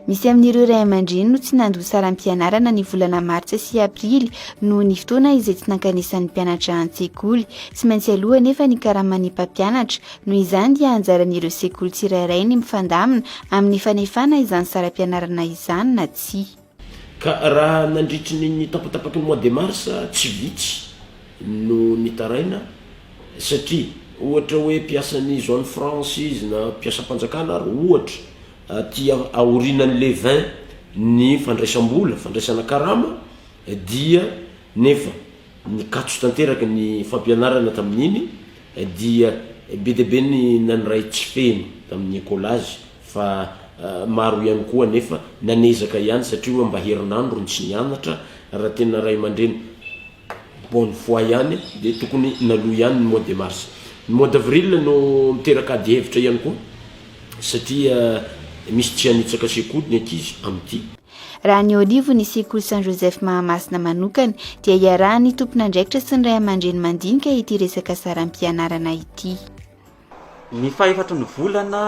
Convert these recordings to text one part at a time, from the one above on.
Misy amin'ireo ray aman-dreny no tsy nandoa saram-pianarana ny volana martsa sy aprily noho ny fotoana izay tsy nankanesan'ny mpianatra an-tsekoly. Tsy maintsy aloha anefa ny karaman'ny mpampianatra, noho izany dia anjaran'ireo sekoly tsirairay ny mifandamina amin'ny fanefana izany saram-pianarana izany na tsia. Ka raha nandritry ny ny tapatapaky ny mois de mars tsy vitsy no nitaraina satria ohatra hoe mpiasan'ny zone franche izy na mpiasam-panjakana ary ohatra aty aorianan'ny le vingt ny fandraisam-bola, fandraisana karama dia nefa Nikatso tanteraka ny fampianarana tamin'iny dia be dia be ny naniray tsy feno tamin'ny ecolazy fa maro ihany koa anefa nanezaka ihany satria hoe mba herinandro no tsy nianatra, raha tena ray aman-dreny bonne foi ihany dia tokony naloa ihany ny mois de mars. Ny mois d'avril no miteraka ady hevitra ihany koa satria misy tsy hanitsaka sekoly ny ankizy amin'ity. Raha ny Olivo ny sekoly Saint Joseph Mahamasina manokana dia iarahan'ny tompon'andraikitra sy ny ray aman-dreny mandinika ity resaka saram-pianarana ity. Ny fahefatry ny volana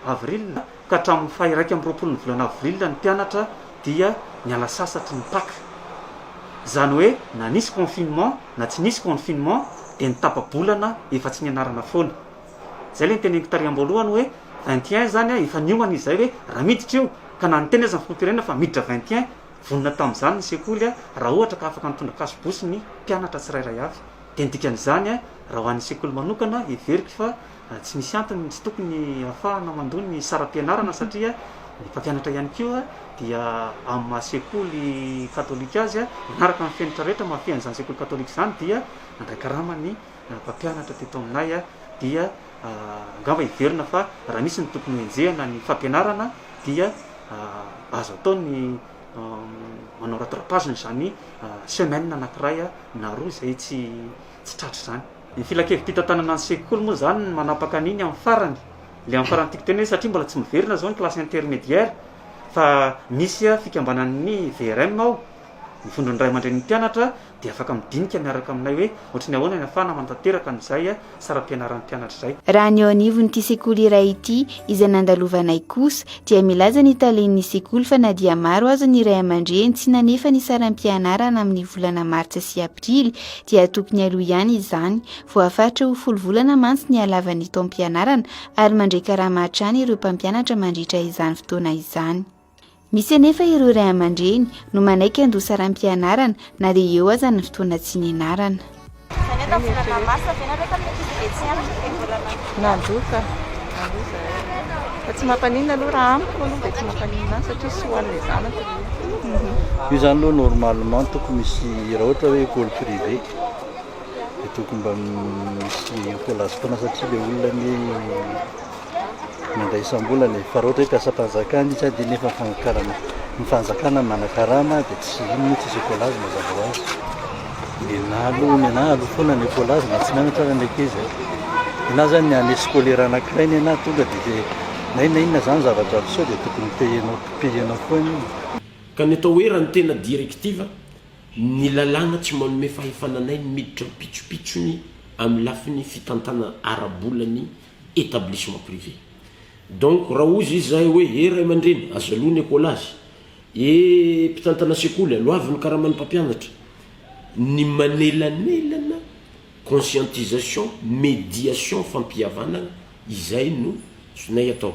avril ka hatramin'ny fahiraika amby roapolon'ny volana avril ny mpianatra dia niala sasatry ny Paka. Izany hoe na nisy confinement na tsy nisy confinement dia ny tapa-bolana efa tsy nianarana foana. Izay ilay noteneniko tary am-boalohany hoe vingt et un izany efa niomana izay hoe raha miditra io, ka na niteny aza ny filoham-pirenena fa miditra vingt et un, vonona tamin'izany ny sekoly raha ohatra ka afaka nitondra kasobosy ny mpianatra tsirairay avy. Dia ny dikan'izany, raha ho an'ny sekoly manokana, heveriko fa tsy misy antony tsy tokony hahafahana mandoa ny saram-pianarana satria ny mpampianatra ihany koa dia amin'ny maha sekoly katolika azy, manaraka ny fenitra rehetra mahafehy an'izany sekoly katolika izany, dia mandray karama ny Ny mpampianatra teto aminay dia angamba heverina fa raha misy ny tokony hohenjehina ny fampianarana dia azo atao ny manao rattrapage an'izany semaine anankiray na roa izay tsy tsy tratra izany. Ny filankevim-pitantanana ny sekoly moa izany no manapaka an'iny amin'ny farany, ilay amin'ny farany tiako tenenina hoe satria mbola tsy miverina izao ny classe intermédiaire fa misy fikambanan'ny VRM ao, ny Vondron'ny Ray aman-drenin'ny Mpianatra, dia afaka midinika miaraka aminay hoe ohatran'ny ahoana ny afahana manatanteraka an'izay saram-pianaran'ny mpianatra izay. Raha ny eo anivon'ity sekoly iray ity izay nandalovanay kosa dia milaza ny talen'ny sekoly fa na dia maro aza ny ray aman-dreny tsy nanefa ny saram-pianarana amin'ny volana martsa sy aprily dia tokony aloha ihany izany, voafaritra ho folo volana mantsy ny halavan'ny taom-pianarana ary mandray karama hatrany ireo mpampianatra mandritra izany fotoana izany. Misy anefa ireo ray aman-dreny no manaiky handoa saram-pianarana na dia eo aza ny fotoana tsy nianarana. Io izany aloha normalement tokony misy raha ohatra hoe école privée dia tokony mba misy encolasse foana satria ilay olona anie mandray isam-bola ny fa raha ohatra hoe mpiasam-panjakana izy dia nefa ny fanakarana ny fanjakana no manakarama dia tsy inona tsy hisy écolage mazava ho azy mianalo mianalo foana ny écolage na tsy mianatra ary ny ankizy ianao zany ny année scolaire anakiray ny anao tonga dia dia na inona inona zany zavatra miseho dia tokony payer-nao payer-nao koa ny Ka ny atao hoe raha ny tena directive, ny lalàna tsy manome fahefana anay ny miditra am-pitsopitsony amin'ny lafiny fitantana ara-bola ny établissement privé donc raha hozy izy zahay hoe ee ray aman-dreny aza aloha ny école azy ee mpitantana sekoly aloavy ny karaman'ny mpampianatra ny manelanelana conscientisation médiation fampihavanana izay no zonay atao.